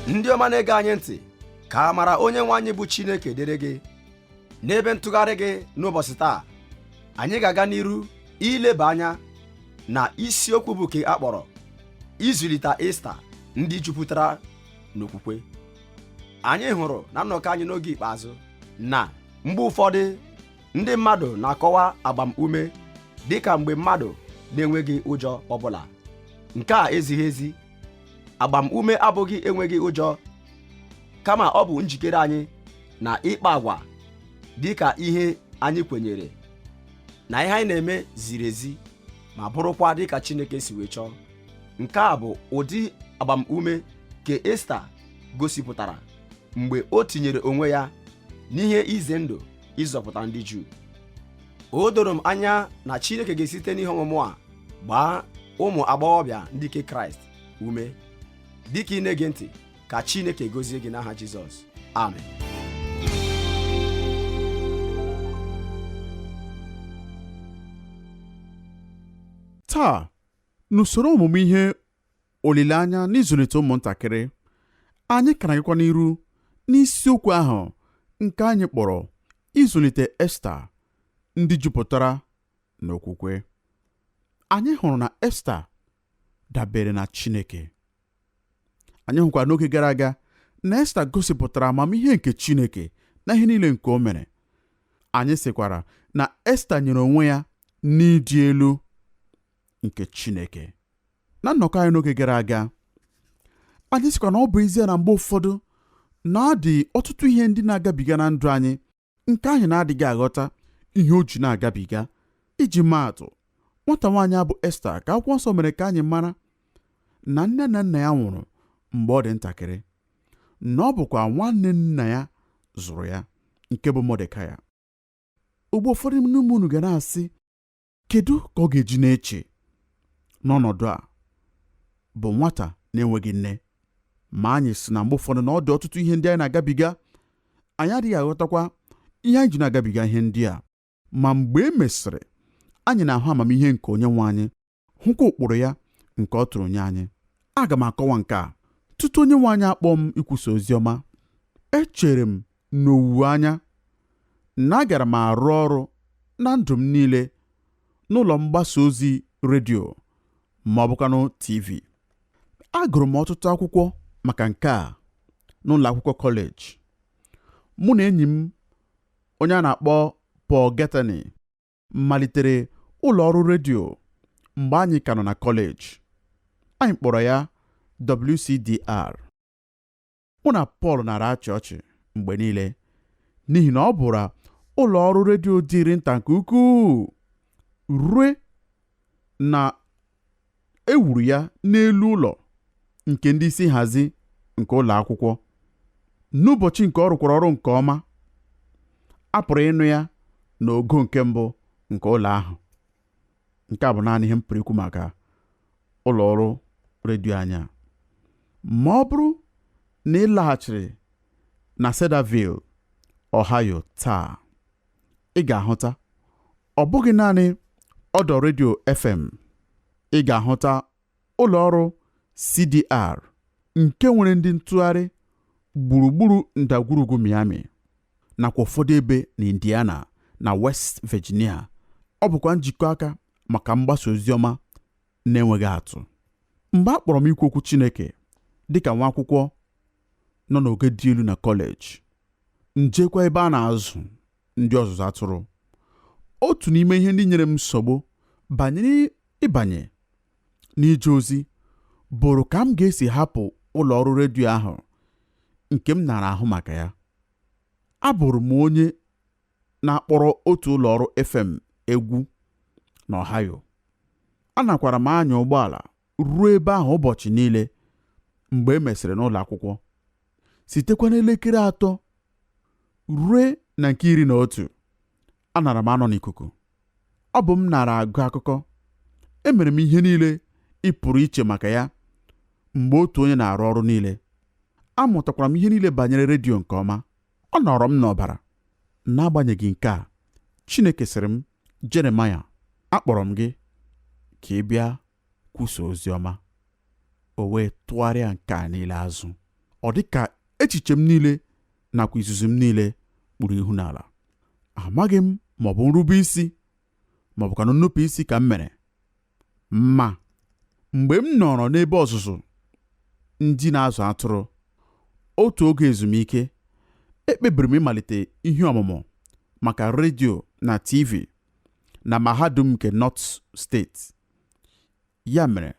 ndị ọma na-ege anyị ntị ka amara onye nwe anyị bụ Chineke dịrị gị n'ebe ntụgharị gị n'ụbọchị taa anyị ga-aga n'iru ileba anya na isiokwu bụ nke a kpọrọ ịzụlite Esta ndị jupụtara n'okwukwe anyị hụrụ na nnọkọ anyị n'oge ikpeazụ na mgbe ụfọdụ ndị mmadụ na-akọwa agbamume dị ka mgbe mmadụ na-enweghị ụjọ ọbụla nke a ezighị ezi agbamume abụghị enweghị ụjọ kama ọ bụ njikere anyị na ịkpa agwa dị ka ihe anyị kwenyere na ihe anyị na-eme ziri ezi ma bụrụkwa dị ka Chineke si wee chọọ nke a bụ ụdị agbamume nke Esta gosipụtara mgbe o tinyere onwe ya n'ihe ize ndụ ịzọpụta ndị Juu o doro m anya na Chineke ga-esite n'ihe ọmụmụ a gbaa ụmụ agbọghọbịa ndị nke Kraịst ume dịka ị na-ege ntị ka Chineke gozie gị n'aha Jizọs amen taa n'usoro ọmụmụ ihe olileanya n'ịzụlite ụmụntakịrị anyị ka na-agakwa n'iru n'isiokwu ahụ nke anyị kpọrọ ịzụlite esta ndị jupụtara n'okwukwe anyị hụrụ na esta dabere na chineke anyị hụkwara n'oge gara aga na esta gosipụtara amamihe nke chineke na ihe niile nke o mere anyị sịkwara na esta nyere onwe ya n'ịdị elu nke Chineke na nnọkọ anyị n'oge gara aga anyị sịkwa na ọ bụ ezie na mgbe ụfọdụ na ọ dị ọtụtụ ihe ndị na-agabiga na ndụ anyị nke anyị na-adịghị aghọta ihe o ji na-agabiga iji maa atụ nwata nwaanyị a bụ Esta ka akwụkwọ nsọ mere ka anyị mara na nne na nna ya nwụrụ mgbe ọ dị ntakịrị na ọ bụkwa nwanne nna ya zụrụ ya nke bụ Mọdekaya ugbu a ụfọdụ n'ime unu ga na-asị kedu ka ọ ga-eji na-eche n'ọnọdụ a bụ nwata na-enweghị nne ma anyị sị na mgbe ụfọdụ na ọ dị ọtụtụ ihe ndị anyị na-agabiga anyị adịghị aghọtakwa ihe anyị ji na-agabiga ihe ndị a ma mgbe e mesịrị anyị na-ahụ amamihe nke onye nwe anyị hụkwa ụkpụrụ ya nke ọ tụrụ nye anyị aga m akọwa nke a tutu onye nwe anyị akpọọ m ikwusa ozi ọma echere m n'owuwe anya na agara m arụ ọrụ na ndụ m niile n'ụlọ mgbasa ozi redio ma ọ bụkwanụ TV. Agụrụ m ọtụtụ akwụkwọ maka nke a n'ụlọ akwụkwọ kọleji. Mụ na enyi m onye a na-akpọ Paul Gathany malitere ụlọ ọrụ redio mgbe anyị ka nọ na kọleji. Anyị kpọrọ ya WCDR. mụ na Paul nara achị ọchị mgbe niile n'ihi na ọ bụrụ ụlọ ọrụ redio dịrị nta nke ukwuu rue na e wuru ya n'elu ụlọ nke ndị isi nhazi nke ụlọ akwụkwọ n'ụbọchị nke ọ rụkwara ọrụ nke ọma a pụrụ ịnụ ya n'ogo nke mbụ nke ụlọ ahụ nke a bụ naanị ihe m pụrụ ikwu maka ụlọ ọrụ redio anyị a ma ọ bụrụ na ị laghachiri na Cedarville Ohio taa ị ga-ahụta ọ bụghị naanị ọdọ redio FM ị ga-ahụta ụlọ ọrụ CDR nke nwere ndị ntụgharị gburugburu ndagwurugwu Miami nakwa ụfọdụ ebe na Indiana na West Virginia ọ bụkwa njikọ aka maka mgbasa ozi ọma na-enweghị atụ mgbe a kpọrọ m ikwu okwu Chineke dịka nwa akwụkwọ nọ n'ogo dị elu na kọleji m jekwa ebe a na-azụ ndị ọzụzụ atụrụ otu n'ime ihe ndị nyere m nsogbu banyere ịbanye n'ije ozi bụrụ ka m ga-esi hapụ ụlọ ọrụ redio ahụ nke m nara ahụ maka ya abụrụ m onye na-akpọrọ otu ụlọ ọrụ FM egwu n'Ohio anakwara m anya ụgbọala ruo ebe ahụ ụbọchị niile mgbe e mesịrị n'ụlọ akwụkwọ sitekwa n'elekere atọ ruo na nke iri na otu anara m anọ n'ikuku ọ bụ m nara agụ akụkọ emere m ihe niile ị pụrụ iche maka ya mgbe otu onye na-arụ ọrụ niile amụtakwara m ihe niile banyere redio nke ọma ọ nọrọ m n'ọbara n'agbanyeghị nke a Chineke sịrị m Jeremaya akpọrọ m gị ka ị bịa kwusa ozi ọma o wee tụgharịa nke a niile azụ ọ dị ka echiche m niile nakwa izuzu m niile kpuru ihu n'ala amaghị m ma ọ bụ nrube isi ma ọ bụkwanụ nnupụ isi ka m mere ma mgbe m nọrọ n'ebe ọzụzụ ndị na-azụ atụrụ otu oge ezumike ekpebiri m ịmalite ihe ọmụmụ maka redio na TV na mahadum nke North steeti Ya mere,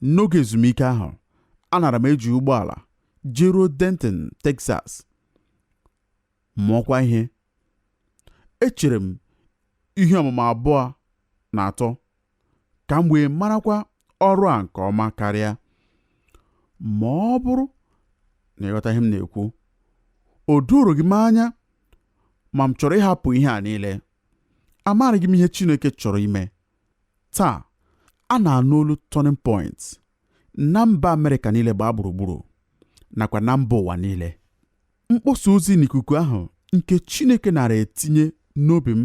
n'oge ezumike ahụ, anara m eji ụgbọala jeruo Denton, Texas, mụọkwa ihe. Echere m ihe ọmụmụ abụọ na atọ ka m wee marakwa ọrụ a nke ọma karịa. Ma ọ bụrụ na ị ghọta ihe m na-ekwu, o doroghị m anya ma m chọrọ ịhapụ ihe a niile. Amaraghị m ihe Chineke chọrọ ime. Taa, a na-anụ olu Turning Point na mba Amerịka niile gbaa gburugburu nakwa na mba ụwa niile. Mkpọsa ozi n'ikuku ahụ nke Chineke nara etinye n'obi m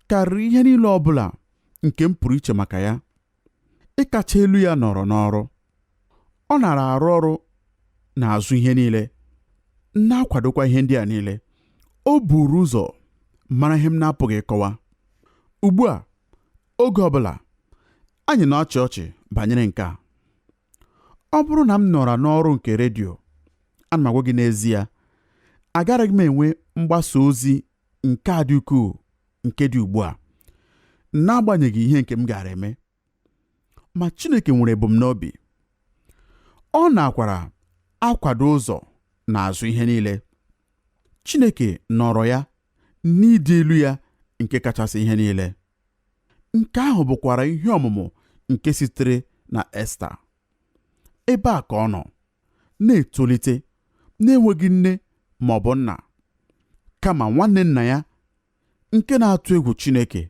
karịrị ihe niile ọ bụla nke m pụrụ iche maka ya. Ịkacha elu ya nọrọ n'ọrụ. ọ nara arụ ọrụ n'azụ ihe niile na-akwadokwa ihe ndị a niile o buru ụzọ mara ihe m na-apụghị ịkọwa ugbu a oge ọ bụla anyị na-achị ọchị banyere nke a ọ bụrụ na m nọra n'ọrụ nke redio ana m agwa gị n'ezie agaraghị m enwe mgbasa ozi nke a dị ukwuu nke dị ugbu a n'agbanyeghị ihe nke m gaara eme ma Chineke nwere ebumnobi ọ na-akwara akwado ụzọ n'azụ ihe niile Chineke nọrọ ya n'ịdị elu ya nke kachasị ihe niile nke ahụ bụkwara ihe ọmụmụ nke sitere na Esta ebe a ka ọ nọ na-etolite na-enweghị nne ma ọ bụ nna kama nwanne nna ya nke na-atụ egwu Chineke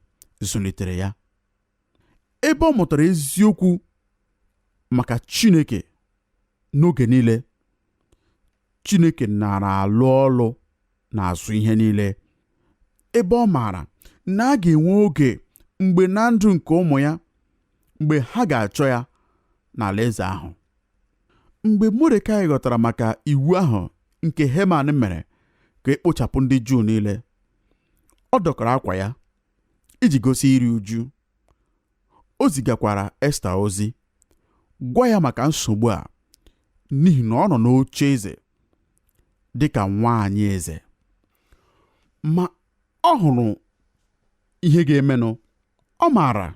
zụlitere ya ebe ọ mụtara eziokwu maka Chineke n'oge niile Chineke nara alụ ọlụ n'azụ ihe niile ebe ọ maara na a ga-enwe oge mgbe na ndụ nke ụmụ ya mgbe ha ga-achọ ya n'alaeze ahụ mgbe Modekai ghọtara maka iwu ahụ nke Heman mere ka e kpochapụ ndị Juu niile ọ dọkara akwa ya iji gosi iri uju o zigakwara Esta ozi gwa ya maka nsogbu a n'ihi na ọ nọ n'oche eze dị ka nwaanyị eze ma ọ hụrụ ihe ga-emenụ ọ maara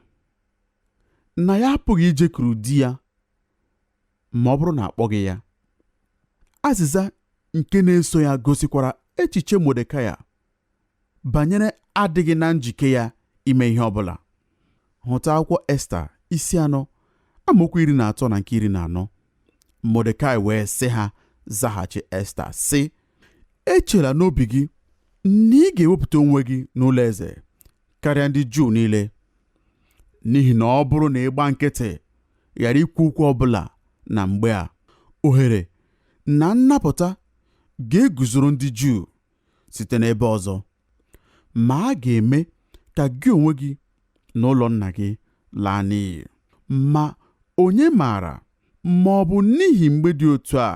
na ya apụghị ijekuru di ya ma ọ bụrụ na akpọghị ya azịza nke na-eso ya gosikwara echiche Modekai banyere adịghị na njike ya ime ihe ọ bụla hụta akwụkwọ Esta isi anọ amaokwu iri na atọ na nke iri na anọ Modekai wee sị ha zaghachi Esta sị echela n'obi gị na ị ga-ewepụta onwe gị n'ụlọ eze karịa ndị Juu niile n'ihi na ọ bụrụ na ị gba nkịtị ghara ikwu okwu ọ bụla na mgbe a ohere na nnapụta ga-eguzoro ndị Juu site n'ebe ọzọ ma a ga-eme ka gị onwe gị na ụlọ nna gị laa n'iyi ma onye maara ma ọ bụ n'ihi mgbe dị otu a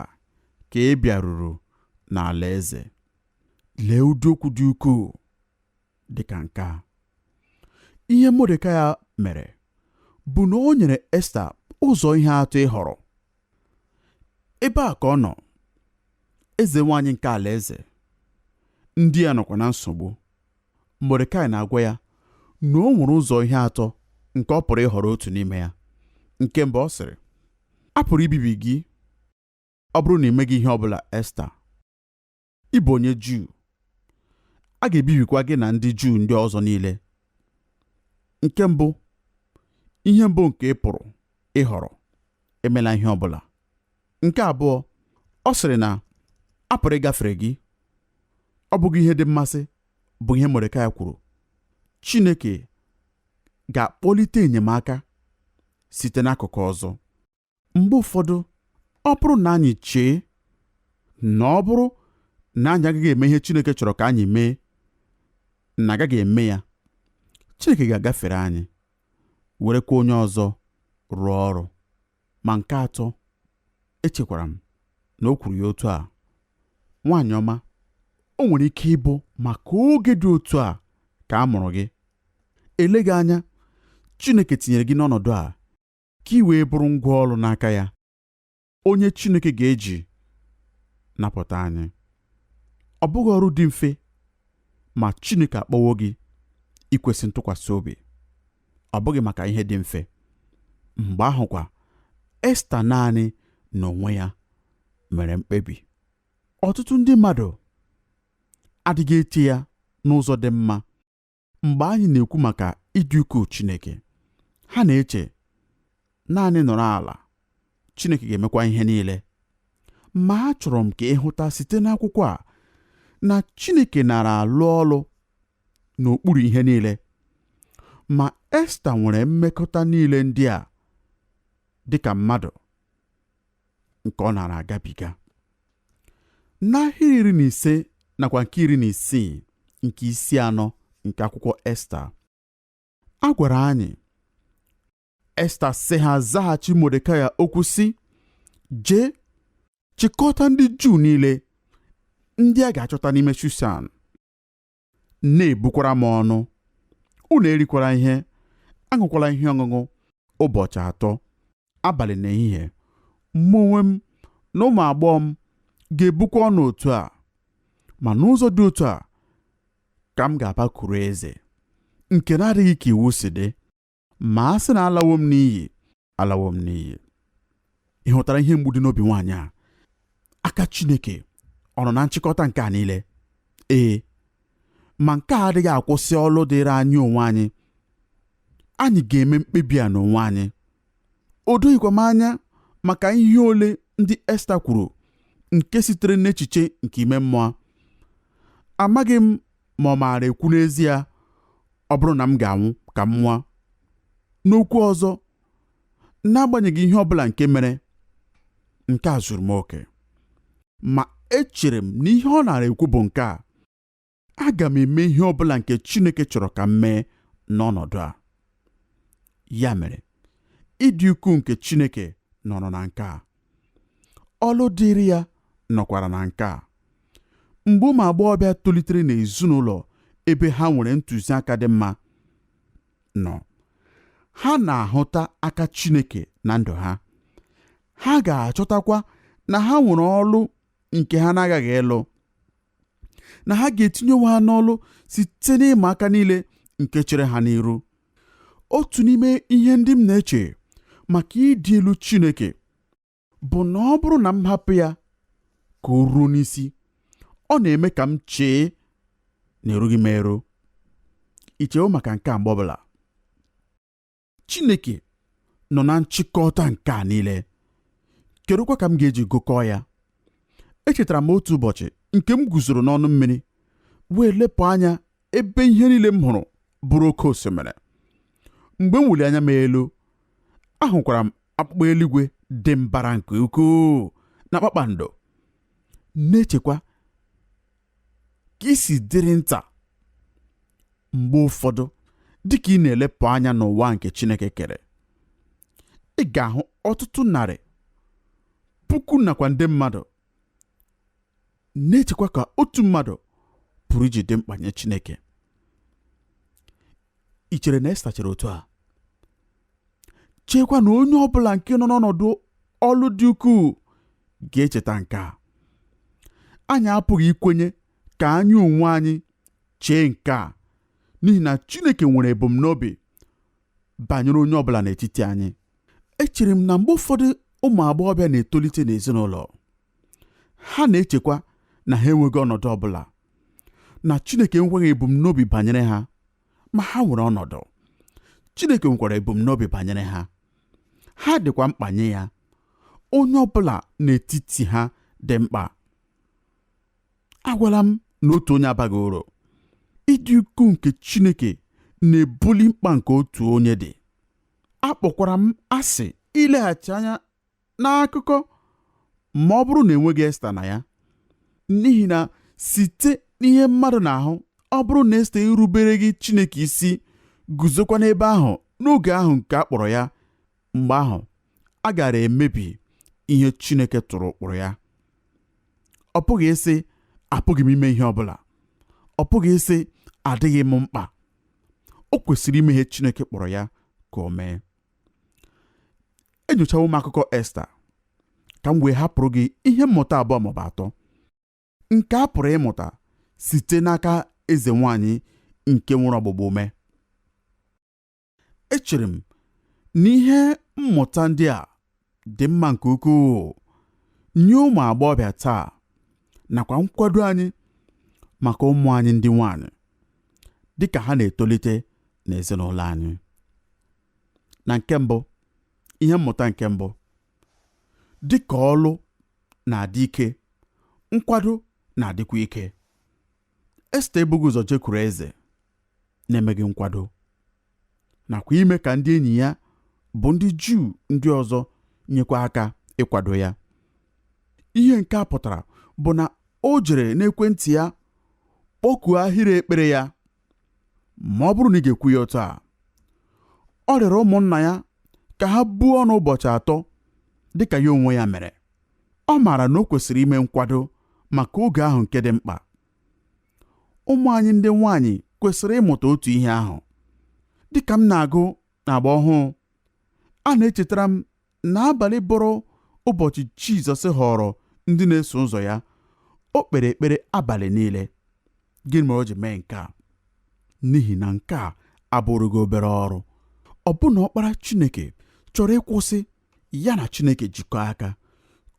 ka ị bịaruru n'alaeze lee ụdị okwu dị ukwuu dị ka nke a ihe Modekai mere bụ na o nyere Esta ụzọ ihe atọ ịhọrọ ebe a ka ọ nọ eze nwaanyị nke alaeze ndị ya nọkwa na nsogbu Modekai na-agwa ya na o nwere ụzọ ihe atọ nke ọ pụrụ ịhọrọ otu n'ime ya nke mbụ ọ sịrị a pụrụ ibibi gị ọ bụrụ na ị meghị ihe ọ bụla Esta ị bụ onye Juu a ga-ebibikwa gị na ndị Juu ndị ọzọ niile nke mbụ ihe mbụ nke ị pụrụ ịhọrọ emela ihe ọ bụla nke abụọ ọ sịrị na a pụrụ ịgafere gị ọ bụghị ihe dị mmasị bụ ihe Modekai kwuru Chineke ga-akpọlite enyemaka site n'akụkụ ọzọ mgbe ụfọdụ ọ bụrụ na anyị chee na ọ bụrụ na anyị agaghị eme ihe Chineke chọrọ ka anyị mee na a gaghị eme ya Chineke ga-agafere anyị werekwa onye ọzọ rụọ ọrụ ma nke atọ echekwara m na o kwuru ya otu a nwaanyị ọma o nwere ike ịbụ maka oge dị otu a ka a mụrụ gị eleghị anya Chineke tinyere gị n'ọnọdụ a ka i wee bụrụ ngwa ọrụ n'aka ya onye Chineke ga-eji napụta anyị ọ bụghị ọrụ dị mfe ma Chineke akpọwo gị ikwesị ntụkwasị obi ọ bụghị maka ihe dị mfe mgbe ahụkwa Esta naanị n'onwe ya mere mkpebi ọtụtụ ndị mmadụ adịghị eche ya n'ụzọ dị mma mgbe anyị na-ekwu maka ịdị ukwuu Chineke ha na-eche naanị nọrọ ala Chineke ga-emekwa ihe niile ma achọrọ m ka ị hụta site n'akwụkwọ a na Chineke nara alụ ọlụ n'okpuru ihe niile ma Esta nwere mmekọta niile ndị a dị ka mmadụ nke ọ na-ara agabiga n'ahịrị iri na ise nakwa nke iri na isii nke isi anọ nke akwụkwọ esta a gwara anyị esta sị ha zaghachi modekai okwu sị jee chịkọta ndị juu niile ndị a ga-achọta n'ime shushan na-ebukwara m ọnụ unu erikwara ihe aṅụkwala ihe ọṅụṅụ ụbọchị atọ abalị na ehihie mụ onwe m na ụmụ agbọghọ m ga-ebukwa ọnụ otu a ma n'ụzọ dị otu a ka m ga-abakuru eze nke na-adịghị ka iwu si dị ma a sị na alawo m n'iyi alawo m n'iyi ị hụtara ihe mgbu dị n'obi nwaanyị a aka Chineke ọ nọ na nchịkọta nke a niile ee ma nke a adịghị akwụsị ọlụ dịịrị anyị onwe anyị anyị ga-eme mkpebi a n'onwe anyị o doghịkwa m anya maka ihe ole ndị Esta kwuru nke sitere n'echiche nke ime mmụọ amaghị m ma ọ na-ara ekwu n'ezie ọ bụrụ na m ga-anwụ ka m nwụọ n'okwu ọzọ n'agbanyeghị ihe ọ bụla nke mere nke a zuru m oke ma echere m na ihe ọ na-ara ekwu bụ nke a aga m eme ihe ọ bụla nke Chineke chọrọ ka m mee n'ọnọdụ a ya mere ịdị ukwuu nke Chineke nọrọ na nke a ọlụ dịịrị ya nọkwara na nke a mgbe ụmụ agbọghọbịa tolitere n'ezinụlọ ebe ha nwere ntụziaka dị mma nọ ha na-ahụta aka Chineke na ndụ ha ha ga-achọtakwa na ha nwere ọlụ nke ha na-aghaghị ịlụ na ha ga-etinye onwe ha n'ọlụ site n'ịma aka niile nke chere ha n'iru otu n'ime ihe ndị m na-eche maka ịdị elu Chineke bụ na ọ bụrụ na m hapụ ya ka o ruo n'isi ọ na-eme ka m chee na erughị m eru i chewo maka nke a mgbe ọbụla Chineke nọ na nchịkọta nke a niile kedụkwa ka m ga-eji gụkọọ ya echetara m otu ụbọchị nke m guzoro n'ọnụ mmiri wee lepụ anya ebe ihe niile m hụrụ bụrụ oke osimiri mgbe m weli anya m elu ahụkwara m akpụkpọ eluigwe dị mbara nke ukwuu na kpakpando na-echekwa ka i si dịrị nta mgbe ụfọdụ dịka ị na-elepụ anya n'ụwa nke Chineke kere ị ga-ahụ ọtụtụ narị puku nakwa nde mmadụ na-echekwa ka otu mmadụ pụrụ iji dị mkpa nye Chineke i chere na Esta chere otu a cheekwa na onye ọ bụla nke nọ n'ọnọdụ ọlụ dị ukwuu ga-echeta nke a anyị apụghị ikwenye ka anyị onwe anyị chee nke a n'ihi na Chineke nwere ebumnobi banyere onye ọ bụla n'etiti anyị echere m na mgbe ụfọdụ ụmụ agbọghọbịa na-etolite n'ezinụlọ ha na-echekwa na ha enweghị ọnọdụ ọ bụla na Chineke enweghị ebumnobi banyere ha ma ha nwere ọnọdụ Chineke nwekwara ebumnobi banyere ha ha dịkwa mkpa nye ya onye ọ bụla n'etiti ha dị mkpa agwala m na otu onye abaghị uru ịdị ukwuu nke Chineke na-ebuli mkpa nke otu onye dị akpọkwara m asị ileghachi anya n'akụkọ ma ọ bụrụ na enweghị Esta na ya n'ihi na site n'ihe mmadụ na-ahụ ọ bụrụ na Esta erubereghị Chineke isi guzokwa n'ebe ahụ n'oge ahụ nke a kpọrọ ya mgbe ahụ a gara emebi ihe Chineke tụrụ ụkpụrụ ya ọ pụghị ịsị apụghị m ime ihe ọ bụla ọ pụghị ịsị adịghị m mkpa o kwesịrị ime ihe Chineke kpọrọ ya ka o mee enyochawo m akụkọ Esta ka m wee hapụrụ gị ihe mmụta abụọ maọbụ atọ nke a pụrụ ịmụta site n'aka eze nwanyị nke nwere ọgbụgba ume echere m na ihe mmụta ndị a dị mma nke ukwuu nye ụmụ agbọghọbịa taa nakwa nkwado anyị maka ụmụ anyị ndị nwanyị dị ka ha na-etolite n'ezinụlọ anyị na nke mbụ ihe mmụta nke mbụ dị ka ọlụ na-adị ike nkwado na-adịkwa ike Esta ebughị ụzọ jekwuru eze na-emeghị nkwado nakwa ime ka ndị enyi ya bụ ndị Juu ndị ọzọ nyekwa aka ịkwado ya ihe nke a pụtara bụ na o jere n'ekwentị ya kpọkuo ahịrị ekpere ya ma ọ bụrụ na ị ga-ekwu ya otu a ọ rịọrọ ụmụnna ya ka ha buo ọnụ ụbọchị atọ dị ka ya onwe ya mere ọ maara na o kwesịrị ime nkwado maka oge ahụ nke dị mkpa ụmụ anyị ndị nwaanyị kwesịrị ịmụta otu ihe ahụ dịka m na-agụ n'agba ọhụụ a na-echetara m na abalị bọrọ ụbọchị Jizọs họrọ ndị na-eso ụzọ ya o kpere ekpere abalị niile gịnị mere o ji mee nke a n'ihi na nke a abụrụghị obere ọrụ ọbụna ọkpara Chineke chọrọ ịkwụsị ya na Chineke jikọọ aka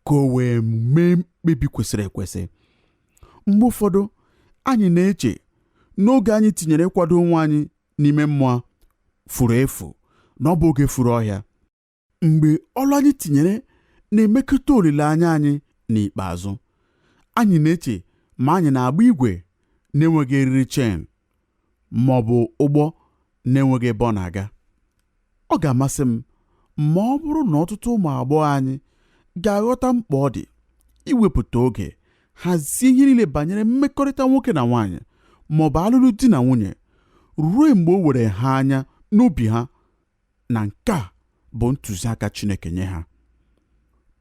ka o wee mee mkpebi kwesịrị ekwesị mgbe ụfọdụ anyị na-eche na oge anyị tinyere ịkwado onwe anyị n'ime mmụọ furu efu na ọ bụ oge furu ọhịa mgbe ọlụ anyị tinyere na-emekọta olileanya anyị n'ikpeazụ anyị na-eche ma anyị na-agba igwe na-enweghị eriri chain ma ọ bụ ụgbọ na-enweghị ebe ọ na-aga. Ọ ga-amasị m ma ọ bụrụ na ọtụtụ ụmụ agbọghọ anyị ga-aghọta mkpa ọ dị iwepụta oge hazie ihe niile banyere mmekọrịta nwoke na nwaanyị ma ọ bụ alụlụ di na nwunye ruo mgbe o were ha anya n'obi ha na nke a bụ ntụziaka Chineke nye ha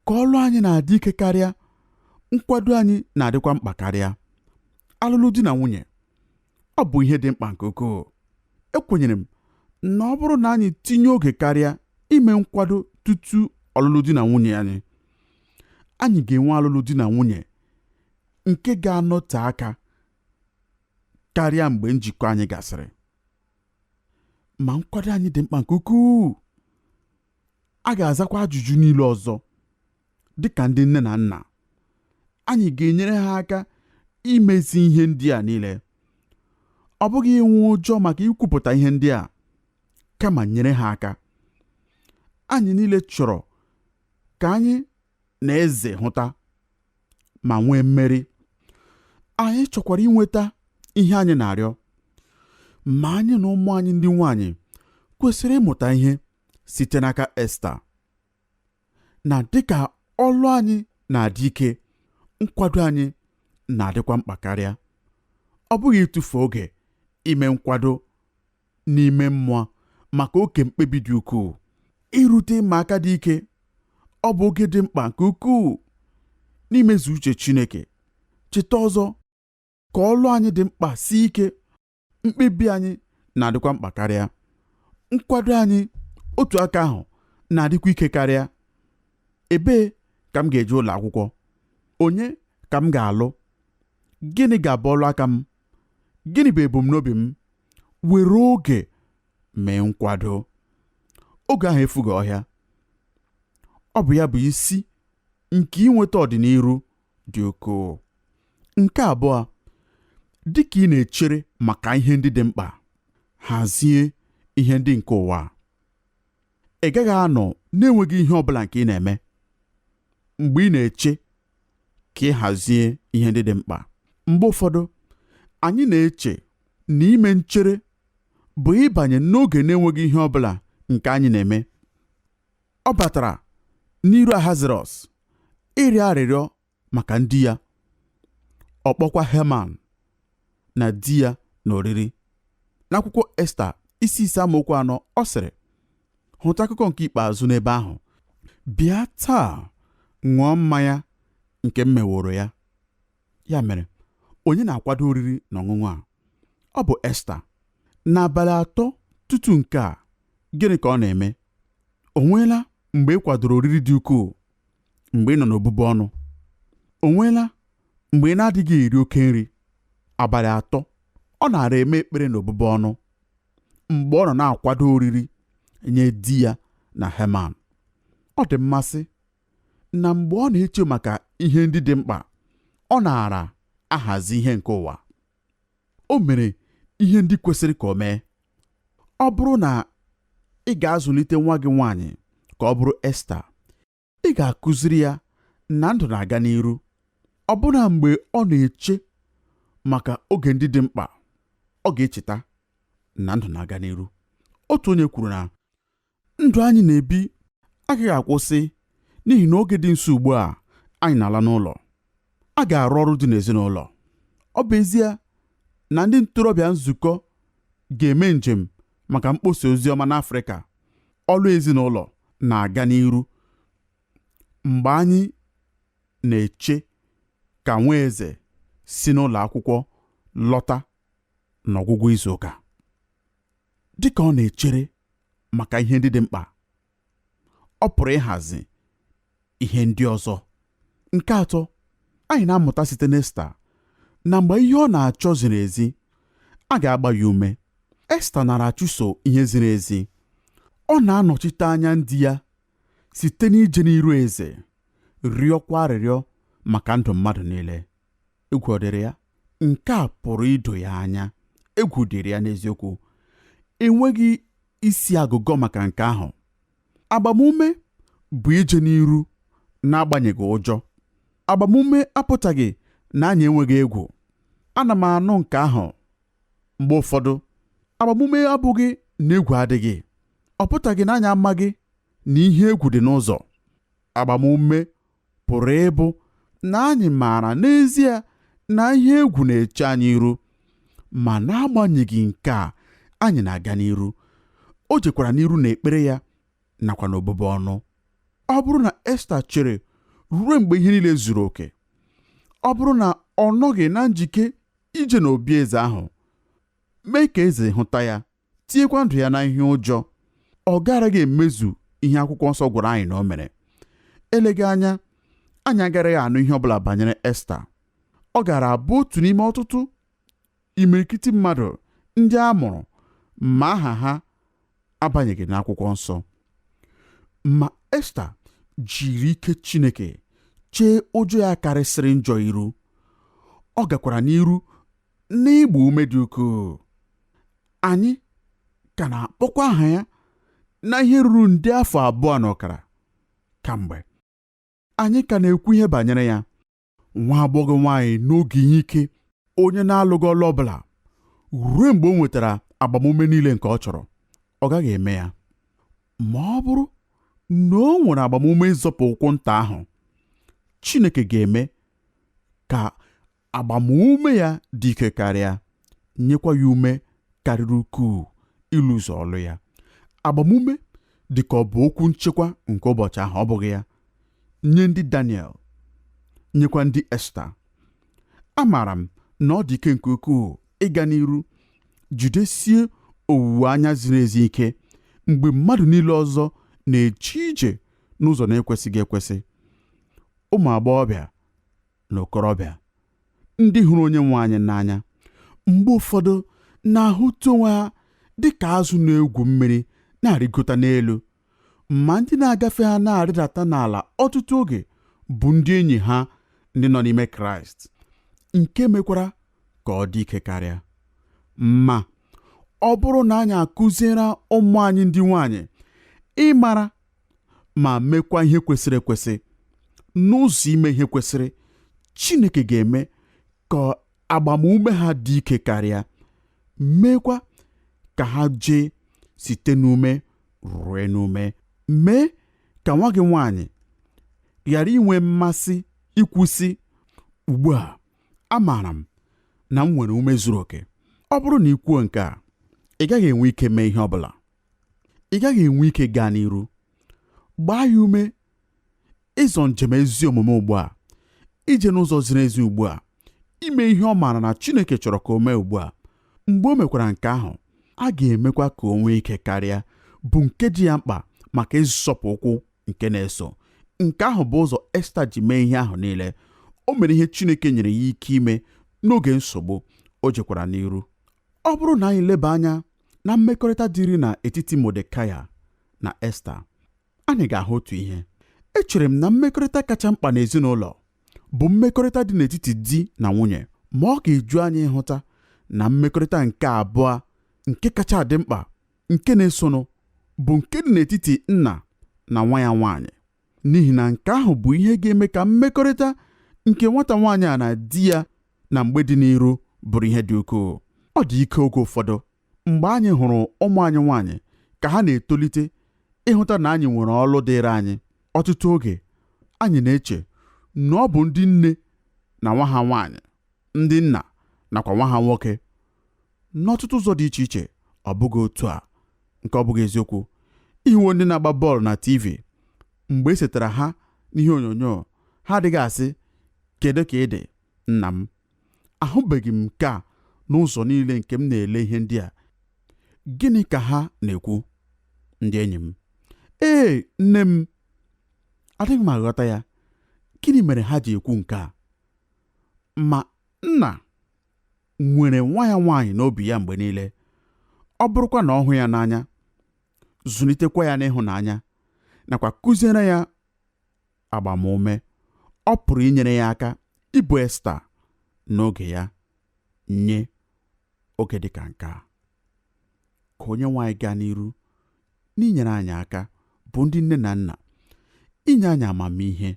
ka ọlụ anyị na-adị ike karịa nkwado anyị na-adịkwa mkpa karịa alụlụ di na nwunye ọ bụ ihe dị mkpa nke ukwuu ekwenyere m na ọ bụrụ na anyị tinye oge karịa ime nkwado tutu ọlụlụ di na nwunye anyị anyị ga-enwe alụlụ di na nwunye nke ga-anọte aka karịa mgbe njikọ anyị gasịrị ma nkwado anyị dị mkpa nke ukwuu a ga-azakwa ajụjụ niile ọzọ dị ka ndị nne na nna anyị ga-enyere ha aka imezi ihe ndị a niile ọ bụghị inwe ụjọ maka ikwupụta ihe ndị a kama nyere ha aka anyị niile chọrọ ka anyị na eze hụta ma nwee mmeri anyị chọkwara inweta ihe anyị na-arịọ ma anyị na ụmụ anyị ndị nwanyị kwesịrị ịmụta ihe site n'aka Esta na dịka ọlụ anyị na-adị ike nkwado anyị na-adịkwa mkpa karịa ọ bụghị ịtụfu oge ime nkwado n'ime mmụọ maka oke mkpebi dị ukwuu irute ịma aka dị ike ọ bụ oge dị mkpa nke ukwuu n'imezu uche Chineke cheta ọzọ ka ọlụ anyị dị mkpa sie ike mkpebi anyị na-adịkwa mkpa karịa nkwado anyị otu aka ahụ na-adịkwa ike karịa ebee ka m ga-eje ụlọ akwụkwọ onye ka m ga-alụ gịnị ga-abụ ọlụ aka m gịnị bụ ebumnobi m were oge mee nkwado oge ahụ efughị ọhịa ọ bụ ya bụ isi nke inweta ọdịniru dị ukwuu nke abụọ dị ka ị na-echere maka ihe ndị dị mkpa hazie ihe ndị nke ụwa ị gaghị anọ na-enweghị ihe ọ bụla nke ị na-eme mgbe ị na-eche ka ị hazie ihe ndị dị mkpa mgbe ụfọdụ anyị na-eche na ime nchere bụ ịbanye n'oge na-enweghị ihe ọ bụla nke anyị na-eme ọ batara n'iru Ahasuerọs ịrịọ arịrịọ maka ndị ya ọ kpọkwa Heman na di ya n'oriri n'akwụkwọ Esta isi ise amaokwu anọ ọ sịrị hụta akụkọ nke ikpeazụ n'ebe ahụ bịa taa ṅụọ mmanya nke m meworo ya ya mere onye na-akwado oriri na ọṅụṅụ a ọ bụ Esta n'abalị atọ tutu nke a gịnị ka ọ na-eme o nweela mgbe ị kwadoro oriri dị ukwuu mgbe ị nọ n'obubu ọnụ o nweela mgbe ị na-adịghị eri oke nri abalị atọ ọ nara eme ekpere n'obubu ọnụ mgbe ọ nọ na-akwado oriri nye di ya na Heman ọ dị mmasị na mgbe ọ na-eche maka ihe ndị dị mkpa ọ nara ahazi ihe nke ụwa o mere ihe ndị kwesịrị ka o mee ọ bụrụ na ị ga-azụlite nwa gị nwaanyị ka ọ bụrụ Esta ị ga-akụziri ya na ndụ na-aga n'iru ọbụna mgbe ọ na-eche maka oge ndị dị mkpa ọ ga-echeta na ndụ na-aga n'iru otu onye kwuru na ndụ anyị na-ebi agaghị akwụsị n'ihi na oge dị nso ugbu a anyị na-ala n'ụlọ a ga-arụ ọrụ dị n'ezinụlọ ọ bụ ezie na ndị ntorobịa nzukọ ga-eme njem maka mkpọsa ozi ọma n'Afrịka ọrụ ezinụlọ na-aga n'iru mgbe anyị na-eche ka nwa eze si n'ụlọ akwụkwọ lọta n'ọgwụgwụ izu ụka dị ka ọ na-echere maka ihe ndị dị mkpa ọ pụrụ ịhazi ihe ndị ọzọ nke atọ anyị na-amụta site n'Esta na mgbe ihe ọ na-achọ ziri ezi a ga-agba ya ume Esta nara achụso ihe ziri ezi ọ na-anọchite anya ndị ya site n'ije n'iru eze rịọkwa arịrịọ maka ndụ mmadụ niile egwu ọ dịrị ya nke a pụrụ ido ya anya egwu dịrị ya n'eziokwu enweghị isi agụgọ maka nke ahụ agbamume bụ ije n'iru n'agbanyeghị ụjọ agbamume apụtaghị na anyị enweghị egwu ana m anụ nke ahụ mgbe ụfọdụ agbamume abụghị na egwu adịghị ọ pụtaghị na anyị amaghị na ihe egwu dị n'ụzọ agbamume pụrụ ịbụ na anyị maara n'ezie na ihe egwu na-eche anyị iru ma n'agbanyeghị nke a anyị na-aga n'iru o jekwara n'iru n'ekpere ya nakwa n'obubu ọnụ ọ bụrụ na Esta chere ruo mgbe ihe niile zuru oke ọ bụrụ na ọ nọghị na njike ije n'obi eze ahụ mee ka eze hụta ya tinyekwa ndụ ya n'ihe ụjọ ọ garaghị emezu ihe akwụkwọ nsọ gwara anyị na o mere eleghị anya anyị agaraghị anụ ihe ọbụla banyere Esta ọ gaara abụ otu n'ime ọtụtụ imirikiti mmadụ ndị a mụrụ ma aha ha abanyeghị n'akwụkwọ nsọ ma Esta jiri ike Chineke chee ụjọ ya karịsịrị njọ iru ọ gakwara n'iru N'ịgba ume dị ukwuu, anyị ka na-akpọkwa aha ya na ihe ruru nde afọ abụọ na ọkara kamgbe. Anyị ka na-ekwu ihe banyere ya, nwa agbọghọ nwaanyị n'oge ihe ike, onye na-alụghị ọlụ ọ bụla ruo mgbe o nwetara agbamume niile nke ọ chọrọ. Ọ gaghị eme ya. Ma ọ bụrụ na o nwere agbamume ịzọpụ ụkwụ nta ahụ, Chineke ga-eme ka agbamume ya dị ike karịa nyekwa ya ume karịrị ukwuu ịlụzu ọlụ ya agbamume dị ka ọ bụ okwu nchekwa nke ụbọchị ahụ ọ bụghị ya nye ndị Daniel nyekwa ndị Esta amaara m na ọ dị ike nke ukwuu ịga n'iru jidesie owuwe anya ziri ezi ike mgbe mmadụ niile ọzọ na-eje ije n'ụzọ na-ekwesịghị ekwesị ụmụ agbọghọbịa na okorobịa ndị hụrụ onye nwe anyị n'anya mgbe ụfọdụ na-ahụta onwe ha dị ka azụ na-egwu mmiri na-arịgota n'elu ma ndị na-agafe ha na-arịdata n'ala ọtụtụ oge bụ ndị enyi ha ndị nọ n'ime Kraịst nke mekwara ka ọ dị ike karịa ma ọ bụrụ na anyị akụziere ụmụ anyị ndị nwaanyị ịmara ma mekwa ihe kwesịrị ekwesị n'ụzọ ime ihe kwesịrị Chineke ga-eme ka agbamume ha dị ike karịa meekwa ka ha jee site n'ume rue n'ume mee ka nwa gị nwaanyị ghara inwe mmasị ikwu sị ugbu a amaara m na m nwere ume zuru oke ọ bụrụ na i kwuo nke a ị gaghị enwe ike mee ihe ọ bụla ị gaghị enwe ike gaa n'iru gbaa ya ume ịzọ njem ezi omume ugbu a ije n'ụzọ ziri ezi ugbu a ime ihe ọ maara na Chineke chọrọ ka o mee ugbu a mgbe o mekwara nke ahụ a ga-emekwa ka o nwee ike karịa bụ nke dị ya mkpa maka ịzọpụ ụkwụ nke na-eso nke ahụ bụ ụzọ Esta ji mee ihe ahụ niile o mere ihe Chineke nyere ya ike ime n'oge nsogbu o jekwara n'iru ọ bụrụ na anyị leba anya na mmekọrịta dịrị na etiti Modekaya na Esta, anyị ga-ahụ otu ihe. Echere m na mmekọrịta kacha mkpa n'ezinụlọ bụ mmekọrịta dị n'etiti di na nwunye, ma ọ ga-eju anyị ịhụta na mmekọrịta nke abụọ nke kacha dị mkpa nke na-esonụ bụ nke dị n'etiti nna na nwa ya nwaanyị n'ihi na nke ahụ bụ ihe ga-eme ka mmekọrịta nke nwata nwaanyị a na di ya na mgbe dị n'iru bụrụ ihe dị ukwuu. Ọ dị ike oge ụfọdụ mgbe anyị hụrụ ụmụ anyị nwaanyị ka ha na-etolite ịhụta na anyị nwere ọlụ dịịrị anyị. Ọtụtụ oge anyị na-eche na ọ bụ ndị nne na nwa ha nwaanyị, ndị nna nakwa nwa ha nwoke. N'ọtụtụ ụzọ dị iche iche ọ bụghị otu a, nke ọ bụghị eziokwu. Ị hụwo ndị na-agba bọọlụ na TV mgbe e setara ha n'ihe onyonyo, ha adịghị asị, Kedụ ka ị dị? Nna m, ahụbeghị m nke a n'ụzọ niile nke m na-ele ihe ndị a. Gịnị ka ha na-ekwu? Ndị enyi m, ee, nne m, adịghị m aghọta ya. Gịnị mere ha ji ekwu nke a? Ma nna nwere nwa ya nwaanyị n'obi ya mgbe niile, ọ bụrụkwa na ọ hụ ya n'anya, zụlitekwa ya n'ịhụnanya, nakwa kụziere ya agbamume ọ pụrụ inyere ya aka ịbụ Esta n'oge ya nye oge dị ka nke a ka Onyenwe anyị gaa n'iru n'inyere anyị aka bụ ndị nne na nna inye anyị amamihe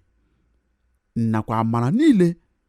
nakwa amara niile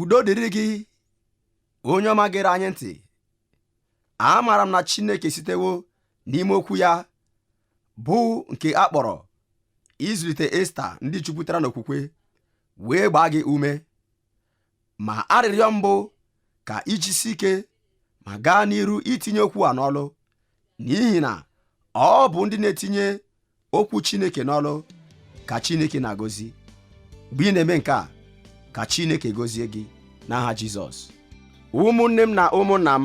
udo dịrị gị onye ọma gere anyị ntị amaara m na Chineke sitewo n'ime okwu ya bụ nke a kpọrọ ịzụlite Esta ndị jupụtara n'okwukwe wee gbaa gị ume ma arịrịọ m bụ ka i jisie ike ma gaa n'iru itinye okwu a n'ọlụ n'ihi na ọ bụ ndị na-etinye okwu Chineke n'ọlụ ka Chineke na-agọzi mgbe ị na-eme nke a ka Chineke gọzie gị n'aha Jizọs ụmụnne m na ụmụnna m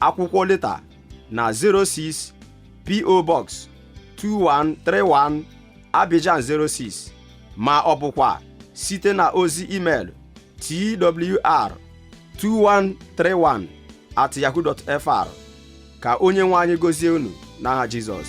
akwụkwọ leta na 06 PO Box 2131 Abidjan 06 ma ọ bụkwa site na ozi email twr 2131 at yahoo.fr ka onye nwe anyị gozie unu n'aha Jizọs